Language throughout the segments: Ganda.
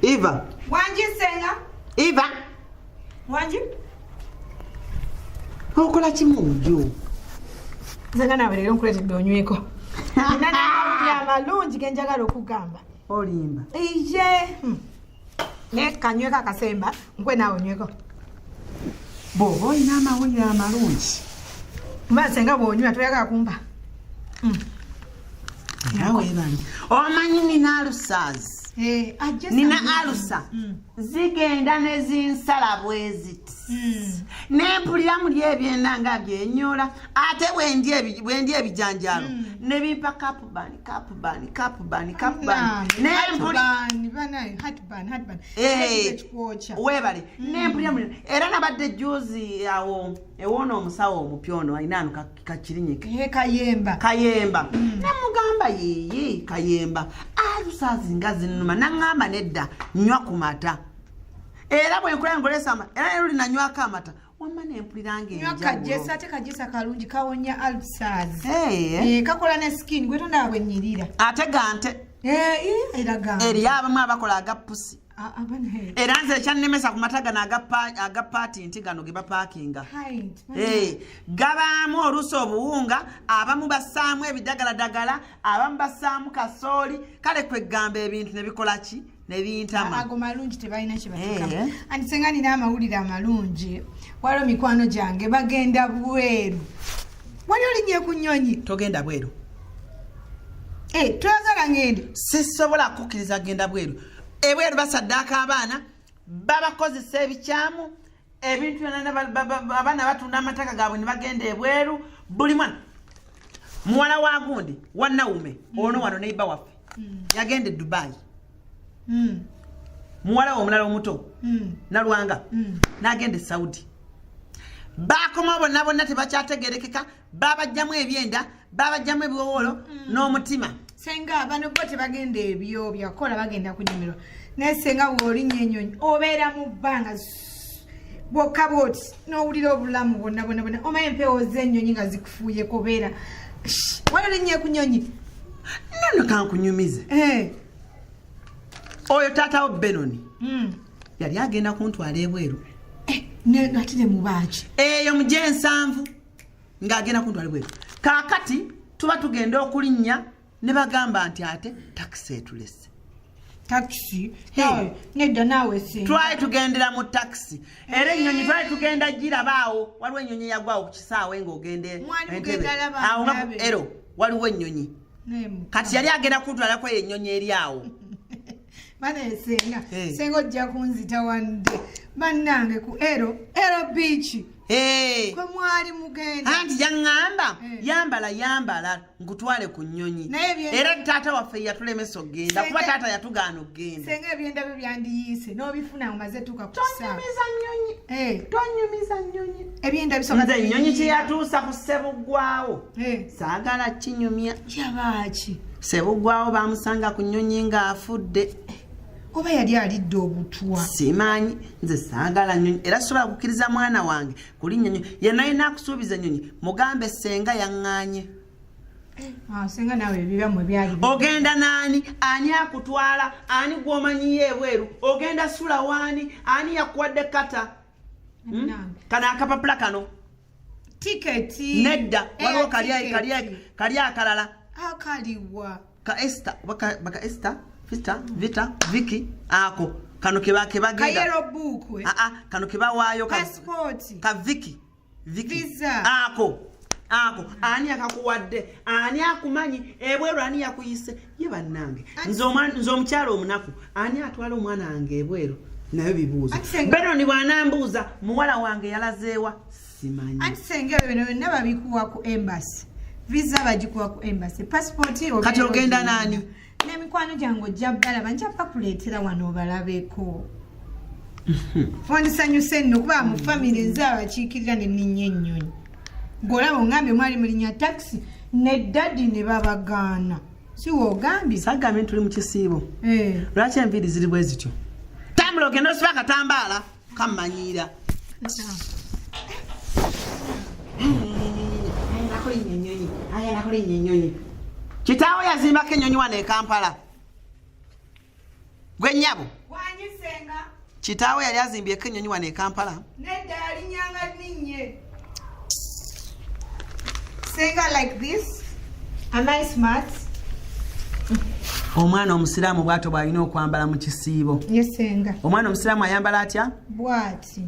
Iva. Wanji senga. Iva. Wanji. Okola kimu nju. Zanga na bere nkulete donyweko. Nana ya malungi genjagala okugamba. Olimba. Iye. Hmm. ne kanyweko akasemba nkwe naawe onyweko bwoba olina amawulire amalungi maze nga bwonywa toyagala kumba mm. omanyi nina alusaazi eh, nina alusa mm. zigenda nezinsala bweziti mm. nempulira muli ebyenda nga byenyola ate bwendi ebijanjalo nebimpa kapu bani cap bani cap bani cap bani nempuli eh, webale mm. nempulira mu era nabadde juzi awo ewona omusawo omupya ono alina ano kakirinyike eh, kayemba kayemba mm. nemugamba yiyi kayemba alusazinga zinuma nangamba nedda nywa ku mata era bwenkulaa ngolesa era nero linanywako amata wamma nempuliranga enyo akajesa ate kajesa kalungi kawonya alsas hey. Eh. Eh, kakola ne skin gwetondaba bwenyirira ate gante eh, eh, eriyo abamu abakola agapusi ah, ah, era nze ekyannemesa ku mata gano aga paati nti gano ge bapaakinga eh, gabaamu oluusi obuwunga abamu bassaamu ebidagaladagala abamu bassaamu kasooli kale kweggamba ebintu ne bikola ki nebintama ago malungi tebalina kyebatekam eh. anti senga nina amawulire amalungi waliwo mikwano gyange bagenda bweru wali olinye ku nyonyi togenda bweru hey, eh, twagala ngende sisobola kukkiriza genda bweru ebweru basaddaaka abaana babakozesa ebikyamu ebintu byona abaana batunda amataka gaabwe ne bagenda ebweru buli mwana muwala wa gundi wanawume mm. ono wano neiba waffe mm. yagenda e dubayi mm. muwala we omulala omuto nalwanga nagenda e saudi bakomawo bonna bonna tebakyategerekeka babajjamu ebyenda babajjamu ebiwowolo n'omutima senga bano bo tebagenda ebyo byakola bagenda kunyumirwa naye senga woolinya enyonyi obeera mu bbanga bwokka bwoti n'owulira obulamu bwonna bwonna bwonna omaye empewo z'enyonyi nga zikufuuye kubeera wali olinnye ku nyonyi nono kankunyumize eh. oyo taatawo benoni hmm. yali agenda kuntwala ebweru eh, ati ne mubaaki eyo mugyensanvu ng'agenda ku ntwalibwa eyo kaakati tuba tugenda okulinnya ne bagamba nti ate takisi etulese takisi nedda naawe twali tugendera mu takisi era ennyonyi twali tugenda girabaawo waliwo ennyonyi eyagwawo ku kisaawe ng'ogenda ero waliwo ennyonyi kati yali agenda kutwalako eyo ennyonyi eri awo bana esenga hey. senga ojja kunzita wande bannange ku ero ero biiki hey. kwe mwali mugenda anti yaŋŋamba hey. yambala yambala nkutwale ku nnyonyi era taata waffe yatulemesa okugenda kuba taata yatugaana okugenda senga ebyenda byo byandiyiise n'obifuna omaze tuuka kusaanyumiza nnyonyi hey. tonyumiza nnyonyi ebyenda bisoa nnyonyi kyeyatuusa ku ssebuggwawo eh. saagala kinyumya yabaaki sebugwawo bamusanga ku nnyonyi ng'afudde oba yali alidde obutwa simanyi nze saagala nyonyi era sobola kukkiriza mwana wange kuli nyonyi yenayina akusuubiza enyonyi mugambe senga yaŋŋanye Ah, ogenda naani ani akutwala ani gwomanyiyo ebweru ogenda sula waani ani yakuwadde kata hmm? kano akapapula kano tiketi nedda waliwo kali akalala akaliwa ka esta baka esta vita vita viki ako kano keba keba genda eh? a a kano keba wayo ka passport ka viki viki visa ako ako ani akakuwadde ani akumanyi ebweru ani yakuyise ye bannange nze omukyalo omunaku ani atwala omwana wange ebweru nayo bibuuzo beno ni bwanambuuza muwala wange yalazeewa simanyi anti senga ebyo bino byonna babikuwa ku embasi visa bagikuwa ku embasi pasipoti kati ogenda naani n'emikwano gyange ojja balaba nja bakuleetera wano obalabeko wandisanyuse nno kuba mu famire nze abakiikirira ne ninya ennyonyi ngolaba ongambye mwali mulinya taxi ne dadi ne babagaana siwogambye sagambye ntuli mu kisiibo eh. lwaki enviiri ziri bwe zityo tambula ogenda osiba akatambaala kammanyiira kitaawo yazimbako ennyonyi wano e kampala gwe nyabo kitaawo yali azimbyeko ennyonyi wano e kampala nedda yali nyanga ninnye senga like this a nice mat omwana omusiraamu bwato bwalina okwambala mu kisiibo omwana omusiraamu ayambala atya bwati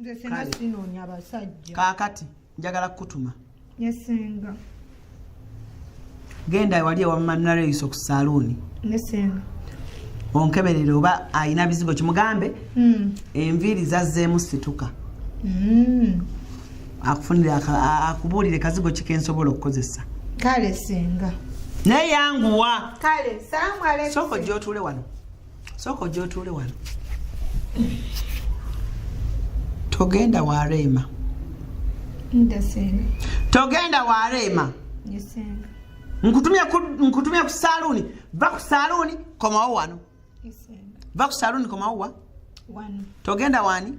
nze sena sinonya basajja kakati njagala kukutuma yesenga genda ewali ewamanareyisa ku saluuni yesenga onkeberere oba alina bizigo kimugambe hmm. enviiri zazzeemu situka hmm. akufunire akubuulire kazigo kikensobola okukozesa kale senga naye yanguwa kale salamu alaikum soko jotule wano sooka ojja otuule wano togenda wa reema togenda wa reema nkutumye ku saluuni va ku saluuni komawo wano va ku saluuni komawo wa togenda wani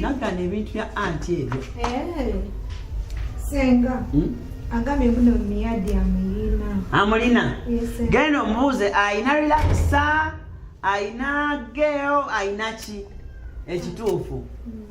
naggana ebintu bya anti ebyo eh, senga hmm? agambye buno miyadi amuyina amulina genda omubuuze ayina relaxa ayina geo ayina ki ekituufu mm.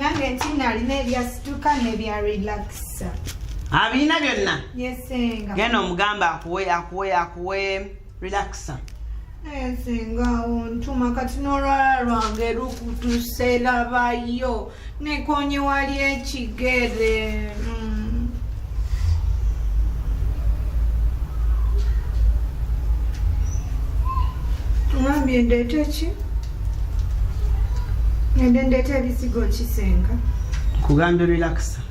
nange nti nalina ebyasituka nebya relaxa abirina byonna genda omugamba akuwe akuwe akuwe relaxa Senga ontuma kati n'olwala lwange lukutuse labayo nekonye wali ekigere mm. ngambye ndeete ki ngende ndeete ebisigo kisenga kugambye relaxa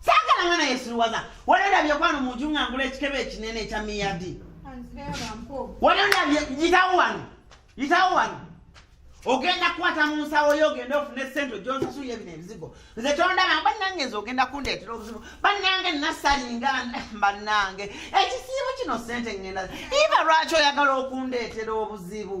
saagala mwana yesiruwaza wali olabye kwano mu nju ngangula ekitebe ekinene ekya miyadi wali olabye yitawo wano yitawo wano ogenda kukwata mu nsawo yo ogenda ofune sente ojonsasulya ebino ebizigo nze kyondaba banange nze ogenda kundeetera obuzibu banange nasalinga banange ekisiibo kino sente ngenda iva lwaki oyagala okundeetera obuzibu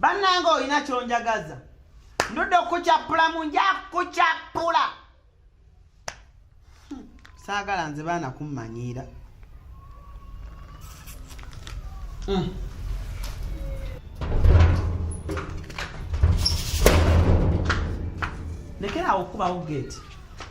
bannanga olina kyonjagaza ndudde okukucappula mu nja kukucappula hmm, saagala nze baana kummanyiira hmm. lekeraawo okukubawo geeti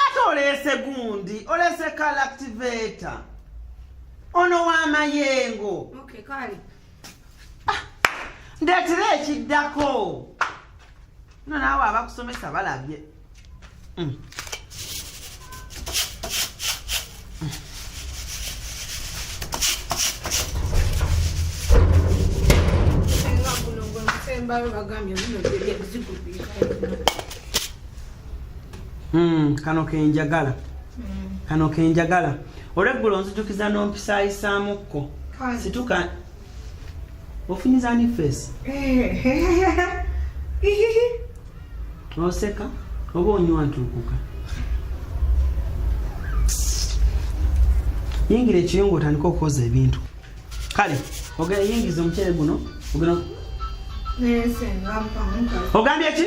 ate oleese gundi oleese kalactivator ono wamayengo okay, kale ah, ndetera ekiddako no naawe abakusomesa balabye mm. Hmm, kano kenjagala hmm. kano kenjagala olweggulo nzijukiza nompisaayisaamuko situka ofunyiza ani face oseka oba onywa ntuukuka yingira ekiyungu otandika okukoza ebintu kale ogenda yingiza omuceere guno ogenda ogambye ki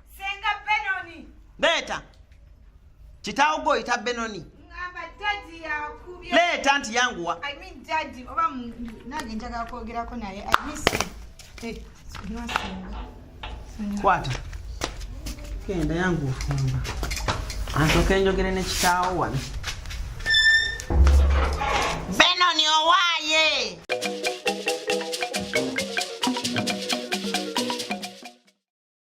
senga benoni leeta kitaawo gwe oyita benoni leeta nti yanguwa kwata genda yangu ofumba ansoka enjogere ne kitaawo wano benoni owaaye